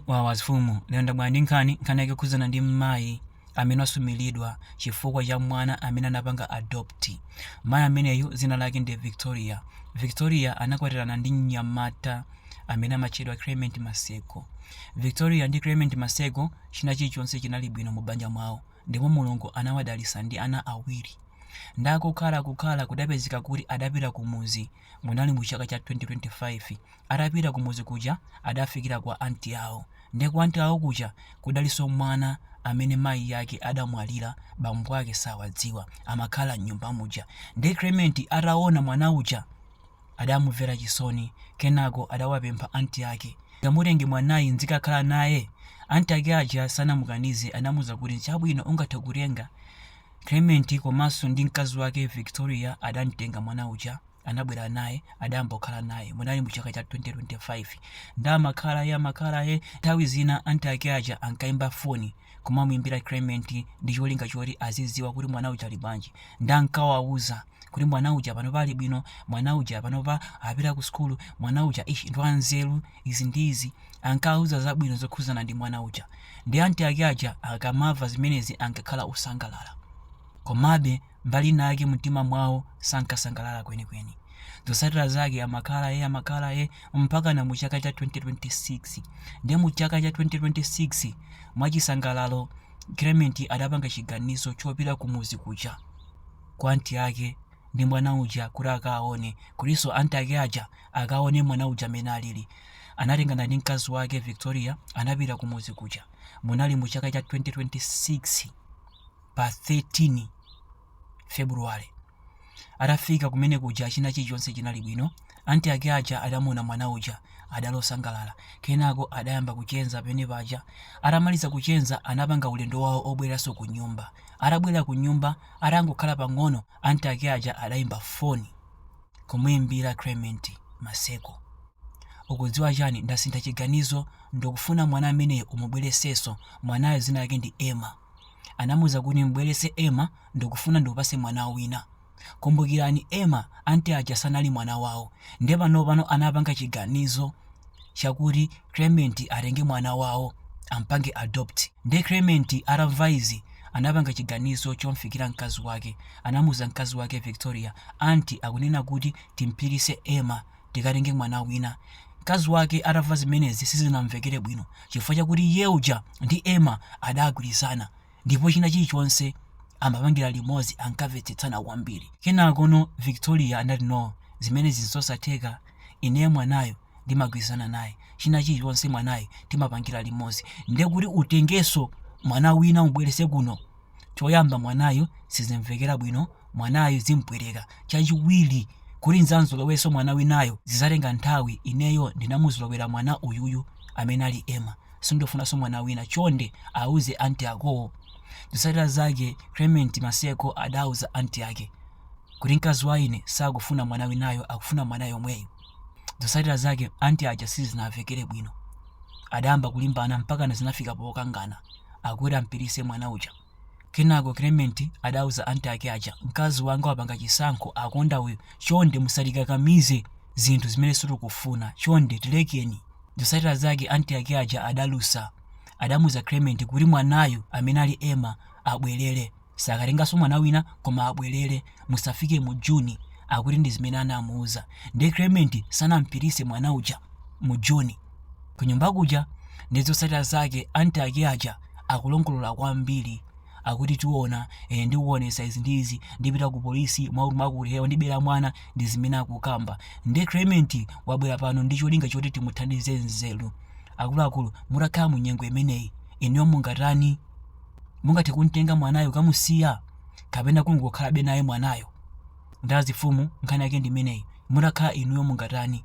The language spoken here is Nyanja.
Wawa mfumu, lero ndabwera ndi nkhani, nkhani yake ikukhudzana ndi mmayi amene wasumiridwa chifukwa cha mwana amene anapanga adopt. Mayi ameneyu dzina lake ndi Victoria. Victoria anakwatirana ndi mnyamata amene amatchedwa Clement Maseko. Victoria ndi Clement Maseko china chilichonse chinali bwino mu banja mwawo ndipo Mulungu anawadalitsa ndi ana awiri. Nde kukhala kukhala kudapezeka kuti adapita kumudzi Munali mu chaka cha 2025. Atapita kumudzi kuja adafikira kwa aunt awo. Nde kwa aunt awo kuja kudalinso mwana amene mayi ake adamwalira bambo ake sawadziwa amakhala mnyumba muja. Nde Clement ataona mwana uja adamumvera chisoni kenako adawapempha aunt ake ndimutenge mwanayu ndzikakhala naye. Aunt ake aja sanamukanize anamuuza kuti chabwino ungathe kumtenga Clement komanso ndi mkazi wake Victoria adamtenga mwana uja anabwera naye adayamba kukhala naye munali mu chaka cha 2025 nde amakhala naye amakhala naye nthawi zina anti ake aja ankaimba foni kumamuimbira Clement ndi cholinga choti azidziwa kuti mwana uja ali bwanji nde ankawauza kuti mwana uja panopa ali bwino mwana uja panopa apita ku sukulu mwana uja ish ndi wanzeru izi ndi izi ankawauza zabwino zokhudzana ndi mwana uja ndi anti ake aja akamamva zimenezi ankakhala osangalala komabe mbali inayake mumtima mwawo sankasangalala kwenikweni zotsatira zake amakhala naye amakhala naye mpakana mu chaka cha 2026 ndiye mu chaka cha 2026 mwachisangalalo clement adapanga chiganizo chopita kumuzi kuja kwa anti ake ndi mwana uja kuti akawaone kutinso anti ake aja akaone mwana uja mmene alili anatengana ndi mkazi wake victoria anapita kumudzi kuja munali mu chaka cha 2026 pa 13 february atafika kumudzi kuja china chilichonse chinali bwino anti ake aja adamuona mwana uja adali osangalala kenako adayamba kucheza pene paja atamaliza kucheza anapanga ulendo wawo obweranso ku nyumba atabwera ku nyumba Atangokhala pang'ono aunt ake aja adaimba foni kumuimbira Clement Maseko. Ukudziwa chani ndasintha chiganizo ndikufuna mwana ameneyo umubweretsenso mwanayo dzina lake ndi Emma. Anamuuza kuti umubweretse Emma ndikufuna ndikupatse mwana wina. Kumbukirani Emma aunt aja sanali mwana wawo nde panopano anapanga chiganizo chakuti Clement atenge mwana wawo ampange adopt nde Clement atamva izi anapanga chiganizo chomfikira mkazi wake anamuuza mkazi wake Victoria aunt akunena kuti timpititse Emma tikatenge mwana wina mkazi wake atamva zimenezi sizinamvekere bwino chifukwa chakuti iye uja ndi Emma adagwirizana ndipo china chilichonse amapangira limodzi ankamvetsetsana kwambiri kenako no victoria anati no zimenezi nzosatheka ineyo mwanayo ndimagwirizana naye china chilichonse mwanayo timapangira limodzi nde kuti utengenso mwana wina umubwerese kuno choyamba mwanayo sizimvekera bwino mwanayo zimpweteka chachiwiri kuti nidzamzolowerenso mwana winayo zizatenga nthawi ineyo ndinamuzolowera mwana uyuyu amene ali ema Sindofunanso mwana wina chonde auze aunt akowo. Zotsatira zake Clement Maseko adauza aunt ake kuti mkazi wa ine sakufuna mwana winayo akufuna mwana yomweyu. Zotsatira zake aunt aja sizinawamvekere bwino. Adayamba kulimbana mpakana zinafika pokangana akuti ampititse mwana uja. Kenako Clement adauza aunt ake aja, mkazi wanga wapanga chisankho, akonda uyu, chonde musatikakamize zinthu zimene sitikufuna, chonde tilekeni. Zotsatira zake aunt ake aja adalusa. Adamuuza Clement kuti mwanayu amene ali Emma abwelere. Sakatenganso mwana wina koma abwelere musafike mu June, akuti ndizimene anamuuza. Ndiye Clement sanampititse mwana uja mu June. Kunyumba kuja ndi zotsatira zake anti ake aja akulongolola kwambiri akuti tiona eh, ndikuonesa izi ndi izi ndipita ku polisi mwakuti mwakuti eh, ndibera mwana ndi zimene akukamba nde Clement wabwera pano ndi cholinga choti timuthandize nzeru akuluakulu mutakhala mu nyengo imeneyi inuyo mungatani mungathe kumtenga mwanayo kamusiya kapena kungokhalabe naye mwanayo nda mfumu nkhani yake ndi imeneyi mutakhala inuyo mungatani